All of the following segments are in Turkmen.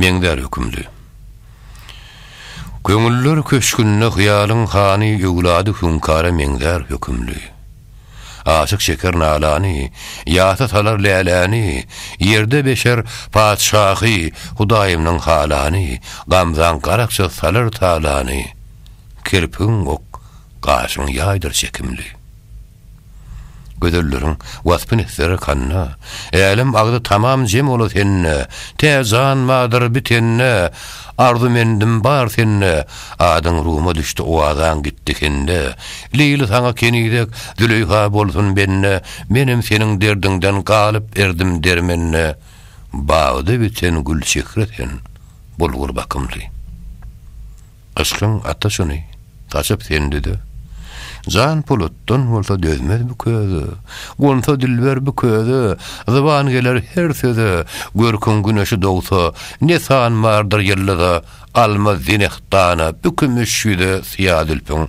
Meňzär hökümli. Köňüller köşgünde hyýalyň hany öwlady hüňkara meňzär hökümli. Aşyk çeker nalany, ýasa salar läläni, ýerde beşer patyşahy, hudaýymnyň halany, gamzaň garakça salar talany, kirpigiň ok, gaşyň ýaýdyr çekimli. Gözelleriň waspyn etseler kanna, Älem agzy tamam jem ola sende, Tä jan bardyr bi tende, Arzumendim bar sende, Adyň ruma düşdi owazaň gitdi hende, Leýli saňa kenizek, Züleýha bolsun bende, Menem seniň derdiňden galyp erdim dermende, Bagda biten gülçehre sen, Bulgur bakymly. Yşkyň ata şuny, gaçyp sende-de. Jan polatdan bolsa dözmez bu köze, Gonsa dilber bu köze, zyban geler her söze. Görküň güneşi dogsa, ne san bardyr ýyldyza, Almaz zeneh dana bu kümüş ýüze syýa zülpüň.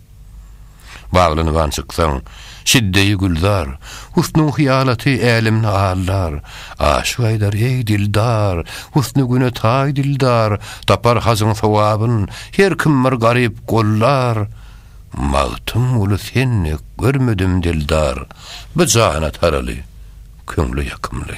Baglanyban çyksaň, şidde-i gülzar, Husnuň hyýalaty älemni aldar. Aşyk aýdar, eý, dildar, Husny güne taý dildar, Tapar hajyň sogabyn, Her kim bir garyp gollar. Magtymguly Sen dek görmedim dildar, Bu jana taraly, köňle ýakymly.